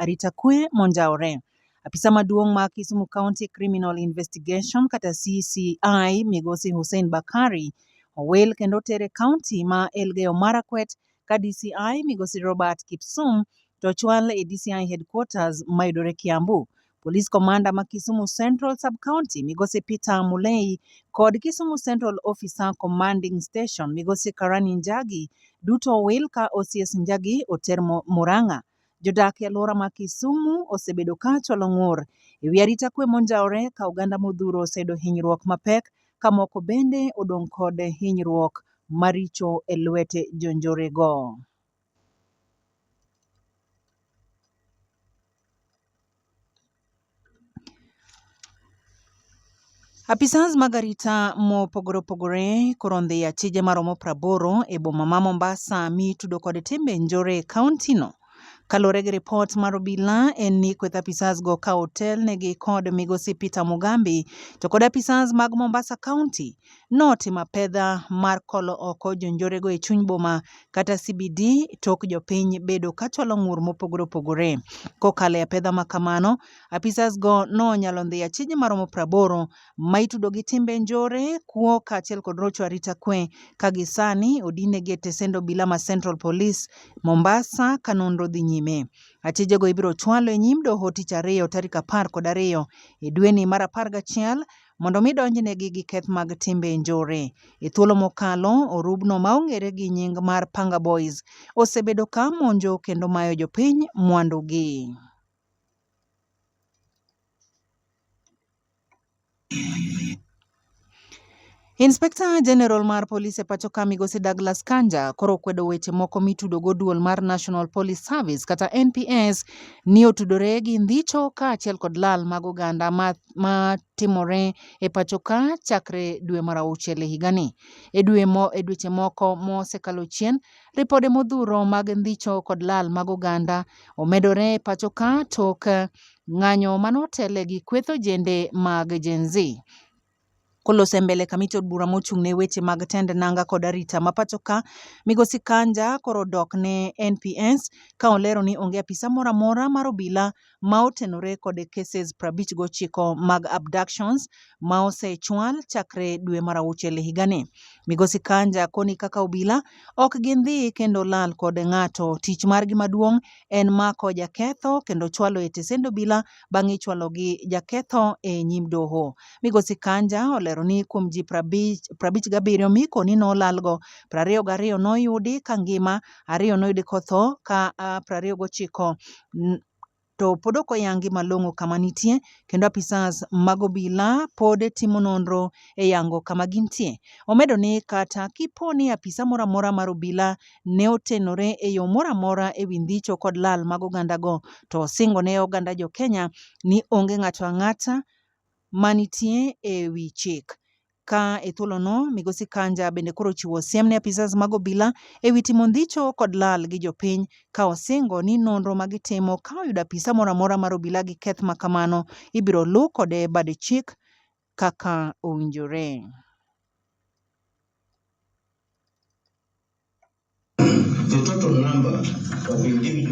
Arita kwe monjawore. Apisa maduong' ma Kisumu County Criminal Investigation kata CCI migosi Hussein Bakari owil kendo oter e kaunti ma Elgeyo Marakwet ka DCI migosi Robert Kipsum to ochwal e DCI headquarters mayudore Kiambu. Police Commander ma Kisumu Central Sub-County migosi Peter Mulei kod Kisumu Central Officer Commanding Station migosi Karani Njagi duto owil ka OCS Njagi oter Murang'a Jodak e alwora ma Kisumu osebedo ka chwalo ng'ur e wi arita kwe monjawore ka oganda modhuro oseyudo hinyruok mapek ka moko bende odong' kod hinyruok maricho e lwete jonjorego. Apisas mag arita mopogore opogore koro ondhi e achije maromo praboro e boma ma Mombasa mitudo kod timbe njore e kaontino. Kaluwore gi ripot mar obila en ni kweth apisas go ka otelnegi kod migosi Peter Mugambi to kod apisas mag Mombasa County Noti ma pedha mar kolo oko jonjorego e chuny boma kata CBD tok jopiny bedo ka chwalo ng'ur mopogore opogore. Kokalo e apedha ma kamano, apisas go nonyalo ndhiyo achije maromo praboro ma itudo gi timbe njore, kuo kaachiel kod rocho arita kwe ka gisani odinegi e tesend obila ma Central Police, Mombasa ka nonro dhi nyime. Achijego ibiro chwalo e nyim doho tich ariyo tarik apar kod ariyo e dweni mar apar gachiel mondo mi donjnegi gi keth mag timbe njore. E thuolo mokalo, orubno ma ong'ere gi nying mar Panga Boys osebedo ka monjo kendo mayo jopiny mwandugi. Inspekta Jenerol mar Polis e pacho ka Migosi Douglas Kanja koro okwedo weche moko mitudogo duol mar National Police Service kata NPS ni otudore gi ndhicho kaachiel kod lal mag oganda ma ma timore e pacho ka chakre dwe mar auchiel e higani. E dwe mo, e dweche moko mosekalo chien, ripode modhuro mag ndhicho kod lal mag oganda omedore e pacho ka tok ng'anyo manotele gi kweth ojende mag Gen Z. Kolose mbele kamiti od bura mochung' ne weche mag tend nanga kod arita ma pacho ka, Migosi Kanja koro dok ne NPS ka olero ni onge apisa moro amora mar obila ma otenore kod cases 59 mag abductions ma osechwal chakre dwe mar auchiel higani. Migosi Kanja koni kaka obila ok gindhi kendo lal kod ng'ato. Tich margi maduong' en mako jaketho kendo chwalo e tesend obila bang' ichwalo gi jaketho e nyim doho. Migosi Kanja olero ni kuom ji prabich gabiriyo mikoni nolalgo, prariyo gariyo noyudi ka ngima, ariyo noyudi kotho ka prariyo gochiko to pod ok oyangi malong'o kama nitie kendo apisas mag obila pod timo nonro e yango kama gintie. Omedo ni kata kipo ni apisa moro amora mar obila ne otenore e yo moro amora e wi ndhicho kod lal mag ogandago, to osingo ne oganda jo Kenya ni onge ng'ato ang'ata ma nitie e wi chik. Ka e thuolono, Migosi Kanja bende koro chiwo siem ne apisas mag obila e wi timo ndhicho kod lal gi jopiny, ka osingo ni nonro ma gitimo ka oyudo apisa moro amora mar obila gi keth ma kamano, ibiro luw kode bad chik kaka owinjore.